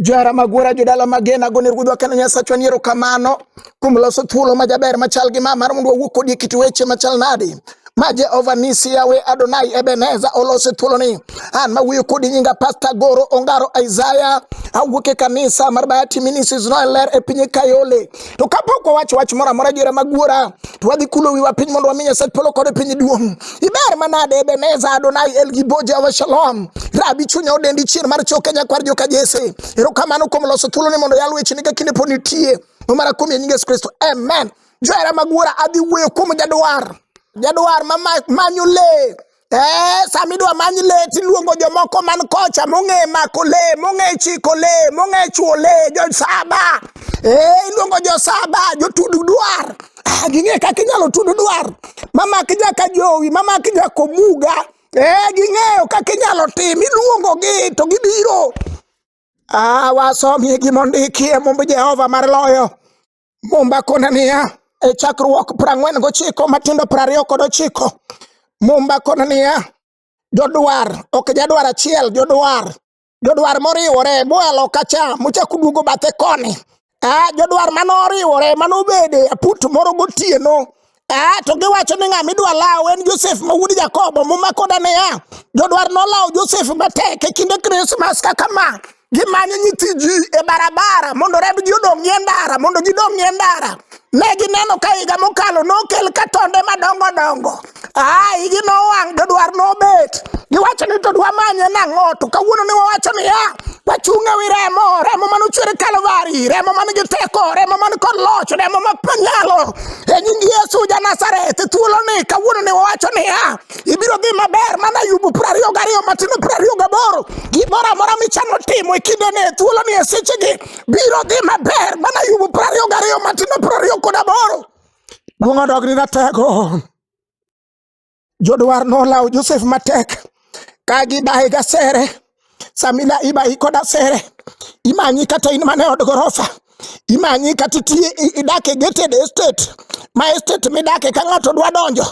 Johera Magwera, jodala magena, gone ruodhwa kendo Nyasachwa ni erokamano kuom loso thuolo ma jaber machal gi ma mar mondo wawuo kodi e kit weche machal nadi ma Jehova Nisi Yawe Adonai Ebeneza olose thuoloni. An ma wuoyo kodi nyinga Pasta Goro Ongaro Isaiah, awuok e kanisa mar Bayati Ministries Noel Ler e piny Kayole. To kapok wawacho wach moro amora adiera mag wuora, to wadhi kulo wiwa piny mondo wami Nyasaye polo kod piny duong'. Iber manade Ebeneza Adonai El Gibo Jehova Shalom. Rabi chunya odendi chier mar choke nyakwar joka Jesse. Erokamano kuom loso thuolo ni mondo yal weche ni ka kinde pod nitie. Omara kuom nying Yesu Kristo. Amen. Johera mag wuora adhi wuoyo kuom jadwar. Jadwar ma manyo le. Eh, sama idwa many le tiluongo jomoko man kocha mong'e mako le mong'e chiko le mong'e chuo le josaba eh, iluongo josaba jotudu dwar ah, ging'e kaka inyalo tudu dwar mamaki jaka jowi mamaki jakomuga eh, ging'eyo kaka inyalo tim iluongogi to gibiro ah, wasomie gimondiki e mumb jehova mar loyo Mumba kona niya, e chakruok prang'wen gochiko matindo prariyo kod ochiko. Mumba kona niya, jodwar, ok jadwar achiel, jodwar. Jodwar moriwore, mwalo kacha, muchako duogo bathe koni. Ah, jodwar mano oriwore, mano obede aput moro gotieno. Ah, to giwacho ni ng'ama idwa law en Josef ma wuod Jakobo. Muma koda niya, jodwar nolawo Josef matek e kinde Krismas kaka ma. Gimanyo nyithi ji e barabara mondo rebgi odong' e ndara, mondo gidong' e ndara. Ne gineno ka higa mokalo nokel ka tonde madongo dongo. Ah, igi nowang', jodwar nobet. Giwacho ni to dwamanye nang'o? To kawuono ne wawacho niya, wachung' ewi remo, remo mane ochwer e Kalvari, remo man gi teko, remo man kod loch, remo ma nyalo e nying Yesu ja Nazareth. Thuolo ni kawuono ne wawacho niya, ibiro dhi maber mana Ayubu piero ariyo gariyo matimo piero ariyo gaboro. Gimoro amora michano timo e kindene e thuolo ni e sechegi biro dhi maber mana Ayubu piero ariyo gariyo matimo piero ariyo kod aboro. Duong' odogni na tego. Jodwar nolawo Josef matek ka gibaye gasere samila ibayi kod asere imanyi kata in mane od gorofa imanyi kata itiye i- idak e gated estate ma estate midake ka ng'ato dwa donjo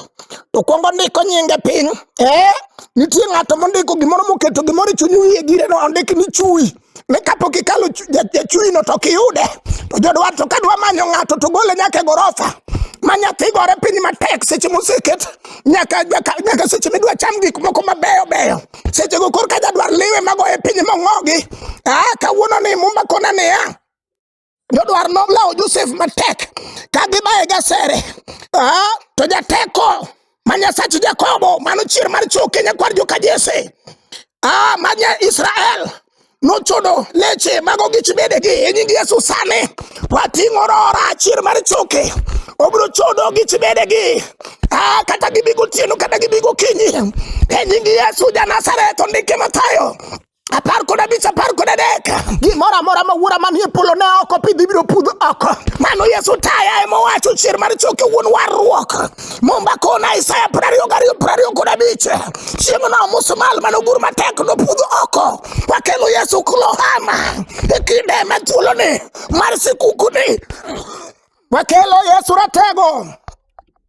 to kwongo ndiko nyinge piny eh nitie ng'ato mondiko gimoro moketo gimoro e chuny wiye gire no ondik ni chui ni kapok ikalo jachuino to ok iyude to jodwar to ka dwa manyo ng'ato to gole nyaka e gorofa ma nyathi gore piny matek seche moseket nyaka nyaka seche midwa cham gik moko mabeyo beyo seche go korka jadwar liwe magoye piny mong'ogi ah, kawuono ni mumba kona niya jodwar nolawo Josef matek ka gibaye gasere ah, to jateko ma Nyasach Jakobo mano chier mar chwo Kenya kwar joka Jesse ah, ma nya Israel nochodo leche mago gi chibedegi e nying Yesu sani wating'o rora chier mar choke obiro chodo gi chibedegi ah, kata gibigo tieno kata gibigo kinyi e nying Yesu ja Nazareth ondike Mathayo apar kod abich apar kod adek gimoro amora ma wuora manie polo ne oko pidh ibiro pudh oko mano yesu taya ema owacho chier mar choke wuon warruok momba kona isaya prariyo gariyo prariyo kod abich chieng' no musumal mane ogur matek nopudh oko wakelo yesu kulohama e kinde ma thuoloni mar sikukuni wakelo yesu ratego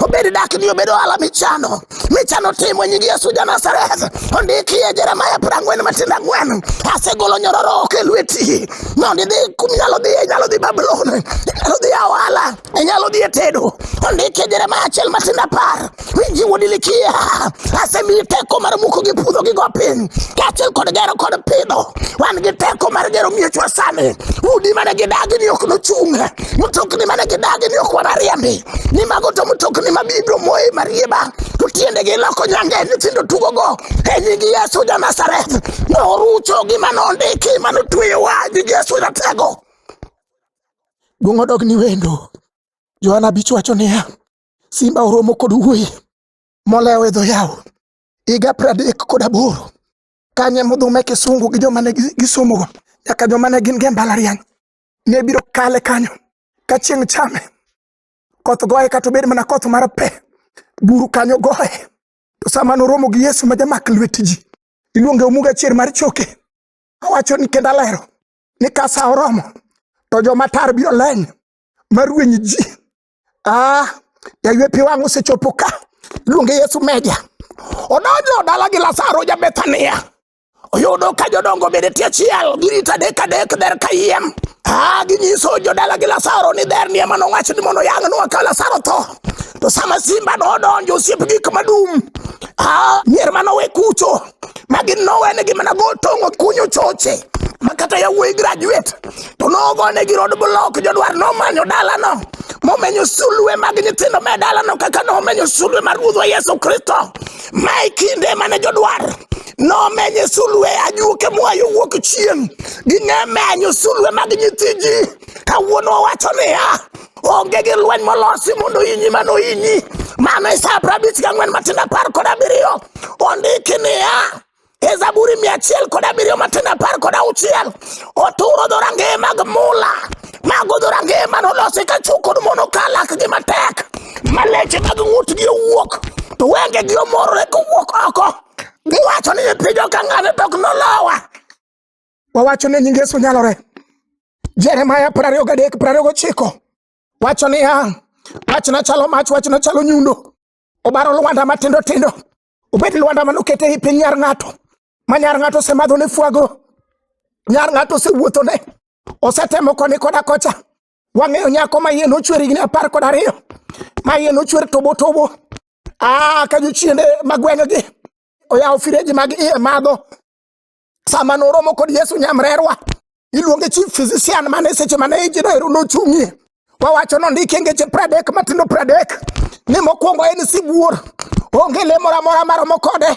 obed dak ni obed ohala michano michano timo e nying Yesu ja Nazareth ondiki e Jeremia piero ang'wen matindo ang'wen asegolo nyororo ok e lweti mondo idhi kuminyalo dhi inyalo dhi Babulon inyalo dhi awala inyalo dhi e tedo ondiki e Jeremia achiel matindo apar winji wuod Ilikia asemiyi teko mar muko gi puodho gi go piny kaachiel kod gero kod pidho wan gi teko mar gero miechwa sani udi mane gidagi ni ok nochung' mtokni mane gidagi ni ok wanariembi ni mago to mtokni ma bibiro moye marieba to tiendegi iloko nyange nyithindo tugogo e nying yesu ja nazareth norucho gima nondiki ma notweyowa nying yesu ratego duong' odog ni wendo johana bich wacho niya simba oromo kod wuoyi molewo e dho yawo higa pradek kod aboro kanye mudhume kisungu gi joma ne gisomogo nyaka joma ne gin ge mbalariany ne biro kale kanyo ka chieng' chame, koth goye kata obed mana koth mar pe, buru kanyo goye. To sama noromo gi Yesu ma jamak lwet ji, iluonge omuga chier mar choke. Awacho ni kendo alero ni ka sa oromo to joma tar biro leny marweny ji. Ah, yaywe pi wang' osechopo ka, iluonge Yesu meja. Odonjo dala gi Lazaro ja Bethania. oyudo ka jodongo bende tie chiel girita dek adek der ka yiem ah, ginyiso jodala gi lasaro ni dher ni ema nowach ni mondo yang' nwa ka lasaro tho to sama simba nodonjo osiep gik madum ah, mier manowe kucho ma gin nowenegi mana go tong'o kunyo choche ma kata yawuoyi graduate to nogonegi rod blok jodwar nomanyo dalano momenyo sulwe mag nyithindo me dalano kaka nomenyo sulwe mar ruodhwa yesu kristo ma e kinde mane jodwar nomenye sulwe ajuoke moa yo wuok chieng' ging'e menyo sulwe mag nyithi ji kawuono owacho niya onge gi lweny molosi mondo ohinyi mano ohinyi mano e sa prabich gang'wen matindo apar kod abiriyo ondiki niya e zaburi mia achiel kod abiriyo matindo apar kod auchiel oturo dhorangeye mag mula mago dhorangeye mane olosi ka chuk kod mono ka lakgi matek ma leche mag ng'utgi owuok to wengegi omorore kowuok oko Iwacho ni nyipiny ok ang'ane to ok nolowa. Wawacho ni nying Yesu nyalore. Jeremaya piero ariyo gadek piero ariyo gochiko wacho niya, wachna chalo mach, wachna chalo nyundo, obaro lwanda matindo tindo, obed lwanda manoket ei piny nyar ng'ato, ma nyar ng'ato osemadhone fwago, nyar ng'ato osewuothone, osetemo koni koda kocha, Wang'eyo nyako ma iye nochwer higni apar kod ariyo ma iye nochwer tobo tobo ah, ka jochiende magweng'gi oyawo fireji mag iye madho sama noromo kod Yesu nyamrerwa iluonge chief physician mane seche mane ijino ero nochung'ie wawacho nondiki ngeche pradek matindo pradek ni mokwongo en sibuor onge le moro amora maromo kode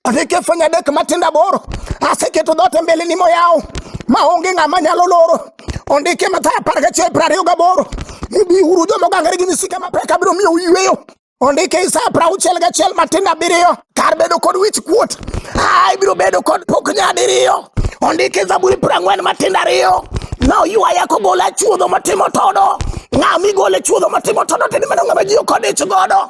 Asekefanya dek matinda boro, aseketo dhoot e mbeleni moyaw, ma onge ng'ama nyalo loro. Ondike Mathayo apar gachiel piero ariyo gaboro ni biuru joma ogangore gi misike mapek abiro miyou yweyo. Ondike Isaya piero auchiel gachiel matindo abiriyo kar bedo kod wich kuot, a ibiro bedo kod pok nyadiriyo. Ondike Zaburi piero ang'wen matindo ariyo na oywaya kogola e chuodho matimo todo. Ng'a migole chuodho matimo todo to en mana ng'ama ji okodichgodo.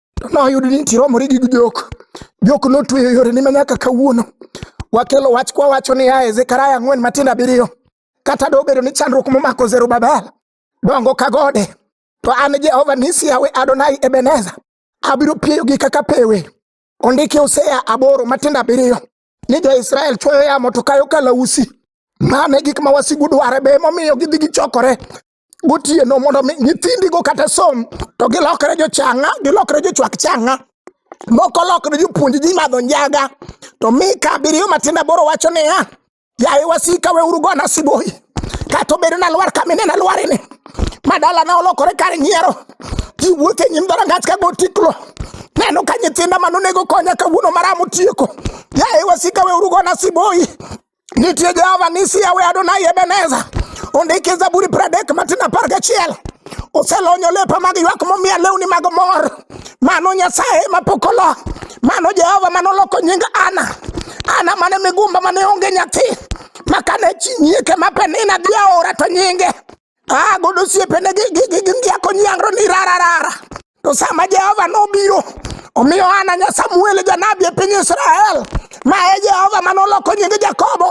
To noyud ni nitie romore gi jok. Jok notweyo yore ni manyaka kawuono. Wakelo wach kwa wacho ni ae Zekaria ang'wen matindo abiriyo. Kata do bedo ni chandruok momako Zerubabel dongo ka gode. To an Jehova nisi yawe Adonai Ebeneza. Abiro pieyogi kaka pewe. Ondiki Hosea aboro matindo abiriyo. Ni jo-Israel chwoyo yamo to kayo kalausi. Mano e gik ma wasigu dware be emomiyo gidhi gichokore gotieno mondo mi nyithindigo kata som to gilokre jochang'a gilokre jochwak chang'a moko lokre jopuonj ji madho njaga to mika abiriyo matinda boro wacho niya yaye wasika weuru gona siboyi kata obedo nalwar kamine nalwarini ma dalana olokore kar nyiero ji wuotho e nyim dhorangach ka gotiklo neno ka nyithinda manonego konya kawuono maramo tieko yaye wasika weuru gona siboyi Nitie Jehova nisi yawe Adonai Ebeneza. Ondiki Zaburi pradek matin apar gachiel. Oselonyo lepa mag ywak momiya lewni mag mor. Mano Nyasaye ma pok olo. Mano Jehova mane oloko nying Ana. Ana mane migumba mane onge nyathi. Makane chi nyieke ma Penina dhi aora to nyinge. ah godo osiepene gi gi gi gi ngiako nyangro ni rara rara to sama jehova nobiro omiyo ana nya samuel janabi e piny israel ma e jehova ma noloko nying jakobo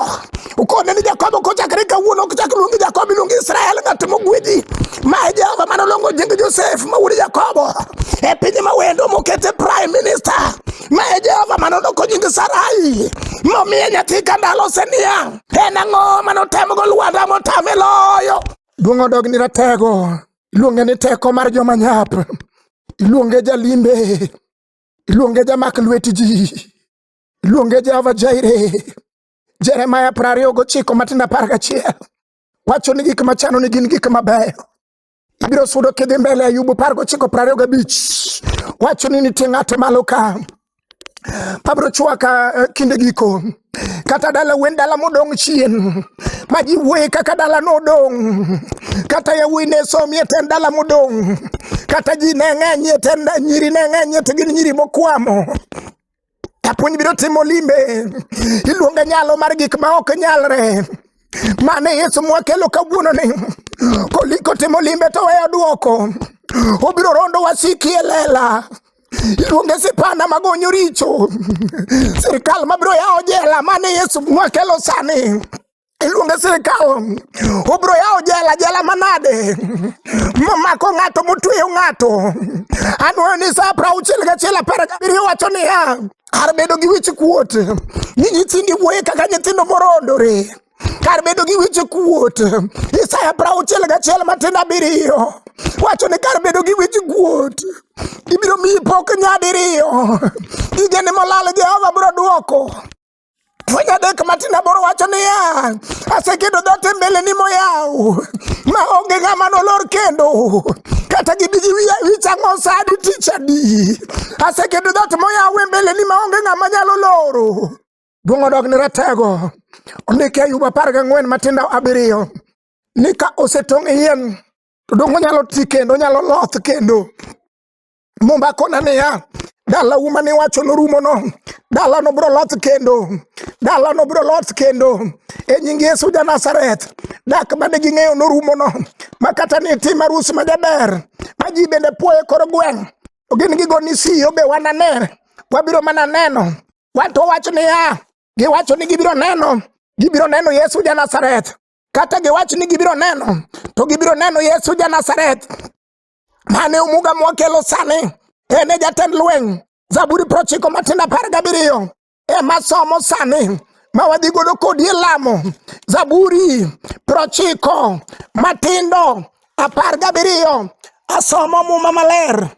ukone ni jakobo kochakre kawuono ok chak luongi jakobo iluongi israel ng'at mogwedhi ma e jehova ma nolongo nying josef ma wuod jakobo e piny ma wendo mokete prime minister ma e jehova ma noloko nying sarai momiye nyathi ka ndalo seniang' En ang'o ma notemogo lwanda motame loyo? Duong' odog ni ratego, iluonge ni teko mar joma nyap, iluonge jalimbe, iluonge jamak lwet ji, iluonge Jehova Jaire. Jeremaya piero ariyo gochiko matindo apar gachiel wacho ni gik machano ni gin gik mabeyo, Ibiro sudo kidhi mbele Ayubu par gochiko prario gabich. Wacho ni nitie ng'ato malo ka. Pabro chwaka eh, kinde giko. Kata dala wen dala modong' chien. Ma ji wuoye kaka dala nodong'. Kata yawuoyi ne somie ten dala modong'. Kata ji ne ng'enyie ten da- nyiri ne ng'enyie to gin nyiri mokwamo. Japuonj biro timo limbe, iluonge nyalo mar gik ma ok nyalre. Mane Yesu mwakelo kawuono ni koliko timo limbe to weyo duoko, obiro rondo wasiki e lela iluonge sipanda magonyo richo sirikal mabiro yawo jela mane Yesu mwakelo sani iluonge sirikal obro yawo jela jela manade momako ng'ato motweyo ng'ato anwoyo ni sa prauchiel gachiel apar gabiriyo wacho niya kar bedo gi wich kuot ni nyithindi wuoye kaka nyithindo morondore kar bedo gi wich kuot isaya prauchiel gachiel matindo abiriyo wacho ni kar bedo gi wich kuot ibiro miyi pok nyadiriyo igeni molal jehova biro dwoko Fwenyo adek matin aboro wacho niya, aseketo dhoot e mbeleni moyaw, ma onge ng'ama nolor kendo, kata gibi gi wiya wich ang'o sa adi tich adi. Aseketo dhoot moyaw e mbeleni ma onge ng'ama nyalo loro. Duong' odog ni ratego. Ondiki Ayub apar gang'wen matindo abiriyo ni ka osetong' e yien to donge onyalo ti kendo onyalo loth kendo Mumba kona niya, dala uma ni wacho norumo no. Dala no bro loth kendo. Dala no bro loth kendo. E nying Yesu ja Nazareth. Dak mane ging'eyo norumo no. Makata ni tim arus ma jaber. Ma ji bende puoye kor gweng'. To gin gigo ni si obe wanane. Wabiro mana neno. Wanto wacho niya, giwacho ni gibiro neno. Gibiro neno Yesu ja Nazareth. Kata giwacho ni gibiro neno. To gibiro neno Yesu ja Nazareth. mane Omuga mwakelo sani en e jatend lweny Zaburi prochiko matindo apar gabiriyo ema somo sani ma wadhi godo kodi e lamo Zaburi prochiko matindo apar gabiriyo asomo muma maler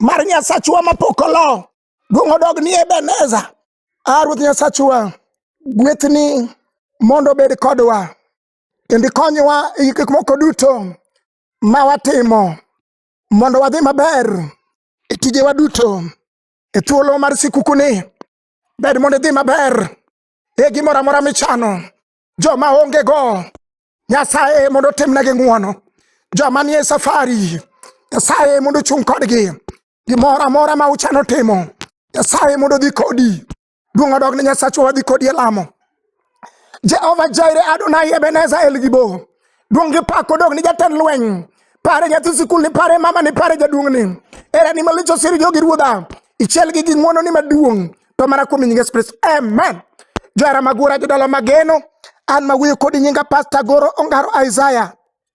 mar Nyasachwa mapok olo duong' odog ni Ebeneza a ah, Ruoth Nyasachwa gwethni mondo obed kodwa kendo ikonywa e gik moko duto ma watimo mondo wadhi maber e tijewa duto e thuolo mar sikukuni ber mondo idhi maber e gimoro amora michano joma ongego nyasaye mondo otimnegi ng'wono joma nie safari nyasaye mondo ochung' kodgi gimoro amora ma uchano timo nyasaye mondo odhi kodi Duong' odog ne Nyasachwa wadhi kodi e lamo. Jehova Jaire Adonai Ebeneza El Gibo. Duong' gi pak odog ni jatend lweny. Pare nyathi sikul ni pare mama ni pare jaduong' ni. Era ni malich osir jogi ruodha. Ichiel gi gi ng'wono ni maduong'. To mana kuom nyinge Spris. Amen. Johera magura jodala mageno. An ma wuoyo kodi nyinga Pastor Goro Ongaro Isaiah.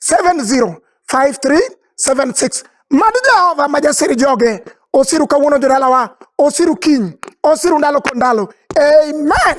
705376 mad Jehova ma jasir joge osiru kawuono jodalawa osiru kiny osiru ndalo kod ndalo amen